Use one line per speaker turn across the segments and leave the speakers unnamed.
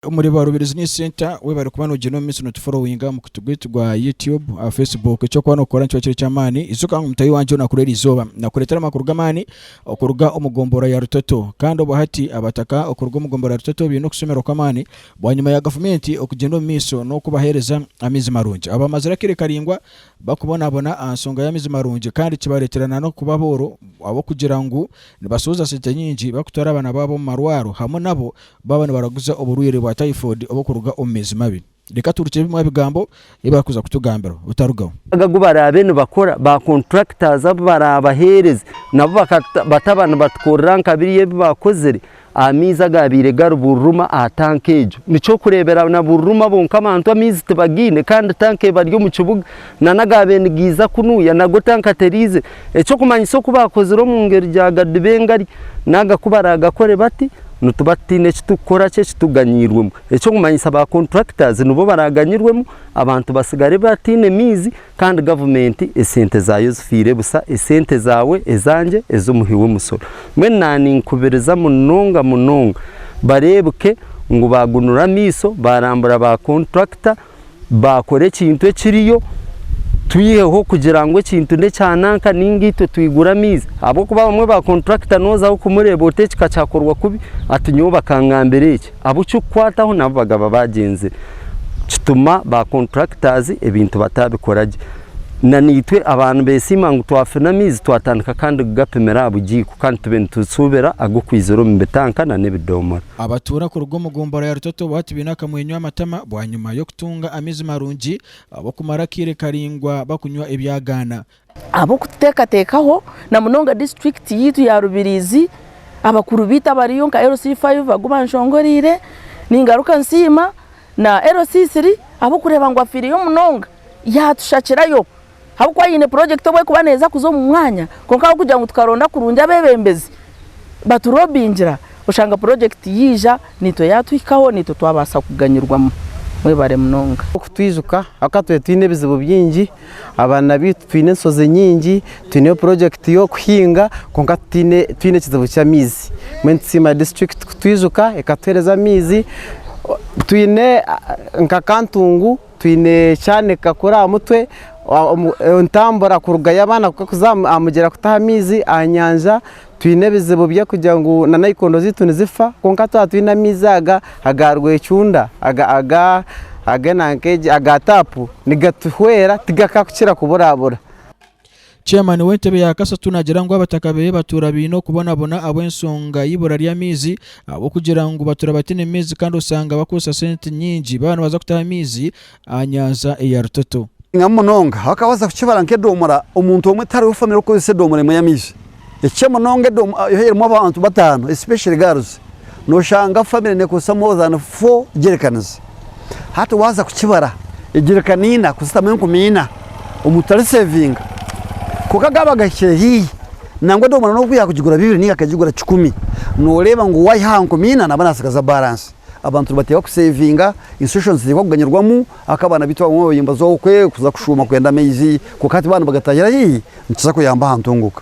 Omuri Baru Business Center weba ori kuba nogyenda omu minsi no tuforowinga aha mukutu gwitu gwa YouTube, aha Facebook. Eki ori kuba nokora nikiba kiri eky'amaani. Ijuka ngu mutahi wangye onaku rw'eri izooba nakureetera amakuru g'amaani okuruga omu gombora ya Rutoto. Kandi obwo hati abataka okuruga omu gombora ya Rutoto baine okushemererwa kw'amaani Bwanyima ya gavumenti okugyenda omu maiso n'okubaheereza amaizi marungi, abo bamazire akaire karaingwa bakubonabona aha nshonga y'amaizi marungi kandi kibareetera na n'okuba abooro ahabw'okugira ngu nibashohoza sente nyingi barikutwara abaana baabo omu marwaro hamwe nabo baaba nibaraguza oburwaire bwa typhoid oburikuruga omu maizi mabi. Reka turukyebimwe aha bigambo ei barikuza kutugambira otarugaho. Omuyaga ogu baraabe
nibakora, ba contractors abu baraabaheereze nabo bataba nibatukorera nka biriya ebi baakozire aha maizi agaabaire gari Bururuma aha tanka egyo. Ni ky'okureeberaho na Bururuma bonka abantu amaizi tibagaine kandi tanka ebari omu kibuga nana agaabaire nigaiza kunuya nago tanka teriize. Eky'okumanyisa oku baakozire omu ngeri gyagadiba engari naaga ku baraagakore bati, nituba tutaine eki turikukora ki ekitugaaniirwemu. Eky'okumanyisa ba contractors nibo baraganyirwemu abantu batsigare bataine maizi kandi government esente zaayo zifiire busa, esente zaawe, ezangye, ez'omuhi w'emusoro. Mbwenu naninkubiriza munonga munonga bareebuke ngu bagunura amaiso barambura ba contractor, baakora ekintu ekiriyo, twiheho kugira ngu ekintu n'ekya nanka nainga itwe twigura amaizi ahabw'okuba abamwe ba kontrakita nooza kumureeba ota eki ka kyakorwa kubi ati nyowe bakangambira eki. Abu kikukwataho nabu bagaba baagyenzire kituma ba kontrakitaazi ebintu bataabikora gye. Na naitwe aba nibeesiima ngu twafuna amaizi twatandika kandi kugapimira aha bugiiko kandi tube nitushuubira ag'okwizira omu bitanka n'ebidoomora. Abatuura kuruga omu
gombora ya Rutoto bwati baine akamwenyo aha matama bwanyima y'okutunga amaizi marungi ab'okumara akaire karaingwa bakunywa ebyagaana.
Ab'okuteekateekaho na munonga disiturikiti yaitu ya Rubirizi, abakuru baitu abariyo nka LC five agu banshongoreire, ningaruka nsiima na LC three ahabw'okureeba ngu afiireyo munonga yaatushakirayo Ahabw'okuba haine purojekiti obu erikuba neeza kuza omu mwanya, kwonka ahabw'okugira ngu tukaronda kurungi abeebembezi baturobingira, oshanga purojekiti yaija, naitwe yaatuhikaho, naitwe twabaasa kuganyirwamu. Mwebare munonga. Kutwijuka ahabw'okuba
twaba twine ebizibu bingi, abaana baitu twine enshozi nyingi, twineyo purojekiti y'okuhinga kwonka tutaine, twine ekizibu ky'amaizi. Mbwenu nitusiima disiturikiti kutwijuka ekatuheereza amaizi. Twine nka Kantungu Twine kyanika kuri aha mutwe, entambura kuruga ya abaana kuka kuza aha mugyera kutaha amaizi aha nyanja, twine ebizibu bya kugira ngu na nayikondo zaitu nizifa kwonka twaba twine amaizi aga aga rwecunda aga taapu nigatuhwera tigakakukira kuburabura. Chairman
w'entebe ya Kasatu nagira ngu abataka beye batuura baine okubonabona ahabw'ensonga y'eibura ry'amaizi ahabw'okugira ngu batuura bataine maizi kandi osanga bakozesa sente nyingi baaba nibaza kutaha amaizi aha nyanja eya Rutoto. Abasingamu munonga
abakabaasa kukibara nk'edoomora, omuntu omwe tari owe famire okukozesa edoomora emwe y'amaizi. Ekikye munonga Edom yo erimu abantu bataano especially girls noshanga family nekozesa more than four jericans hati waza kukibara ejerican ina kuzitamu enkumi ina omuntu tari savinga kwonka gaba gahikire hihi nangwa edomora nobu yakugigura bibiri ninga akagigura kikumi noreba ngu wayiha aha nkumi ina naba nasigaza balance abantu nibateeba ku savinga institutions zihikwa kuganyirwamu ahaka abaana baitu abamwe babaire nibazwaho kuza kushuuma kwenda amaizi kwonka hati baba nibagatahira hihi. Nikiza kuyamba aha ntunguka.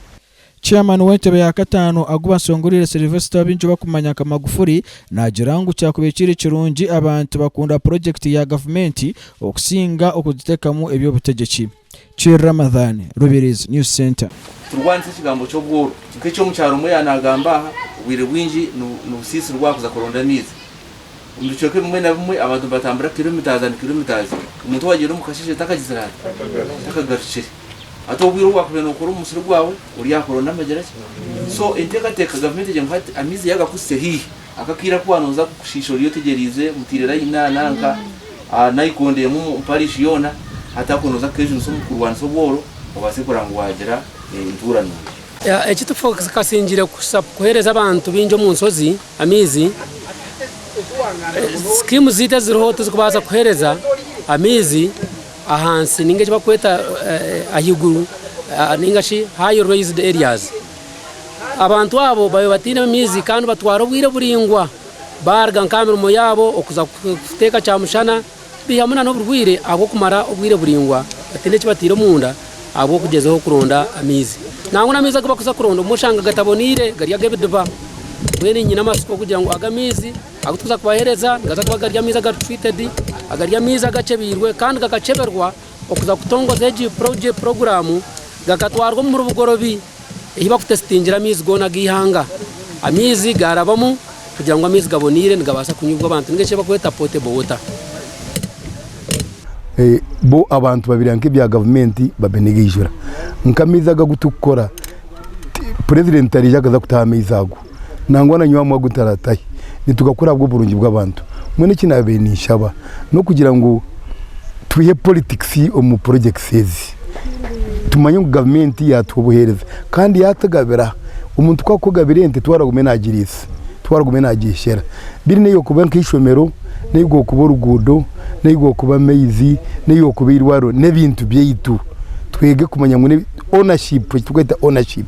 Chairman
w'entebe ya kataano agu basongoriire Sylvester abaingi bakumanya nka Magufuli naagira ngu kyakubaire kiri kirungi abantu bakunda purojekiti ya gavumenti okusinga okugiteekamu eby'obutegyeki. Kyr Ramadhan, Rubirizi News Centre. Turi kwandisa ekigambo
ky'obworo. Nka eki omukyaro omwe yaanagamba aha, obwire bwingi nibusiisirwa aha kuza kuronda amaizi. Omu bicweka bimwe na bimwe, abantu nibatambura kilomitazi and kilomitazi. Omuntu owaagiire omu kasheshe takagizire ata? Takagarukire. Hati obwire obu wakubaire nookora omu musiri gwawe, oryahakora ondi amagira ki? So enteekateeka gavumenti egire ngu hati amaizi yaagakuhitsire haihi, aka akaire aku waaza kukushiisha oriya otegyereize, mutaire layini aha nanka, aha naikondo emwe omu parishi yoona, hati ako nooza kukeejunisa omu kurwanisa obworo, obaase kureba ngu waagira entuura nungi. Eki
tikikasingiire kusa kuheereza abantu baingi omu nshozi amaizi. Sikiimu zaitu eziriho tizikubaasa kuheereza amaizi. Ahansi ninga eki barikweta ahaiguru ninga shi high raised areas. Abantu abo babaire bataine maizi kandi batwara obwire buraingwa baaruga nk'aha mirimo yaabo okuza kuteeka kyamushana, baihamu nana oburwaire ahabw'okumara obwire buraingwa bataine eki bataire omunda ahabw'okugyezaho kuronda amaizi. Nangwa n'amaizi agu barikuza kuronda obumwe oshanga gataboneire gari ag'ebidiba. Mbwenu nyine amatsiko kugira ngu ago amaizi. Agu turikuza kubahereza nigaza kuba gari amaizi agari treated, agari amaizi agacebeirwe kandi gakaceberwa okuza kutongoza egi puroguramu gakatwarwa omu bugorobi eyi bakutesitingire amaizi goona ag'eihanga. Amaizi garabamu kugira ngu amaizi gaboneire nigabaasa kunyibwa abantu ninga eki barikweta potable water.
Bo abantu babireba nk'ebya gavumenti babinegeijura nk'amaizi aga agu turikukora, purezidenti tarije akaza kutaho amaizi ago. nangwa na nyowe amu agu ntaratahe nitugakora ahabw'oburungi bw'abantu. Mbwenu eki naabaire ninshaba n'okugira ngu twihe politics omu projects ezi, tumanye ngu gavumenti yaatuha obuheereza kandi yaatugabira aha. Omuntu ku akugabira ente twara agume naagiriisa, twara agume naagyeshera. Mbwenu n'eyi okuba nk'eishomero, n'eyi gwokuba oruguudo, n'eyi gwokuba amaizi, n'eyi gwokuba eirwariro n'ebintu byaitu twege kumanya ngu n'ebya ownership, eki turikweta ownership.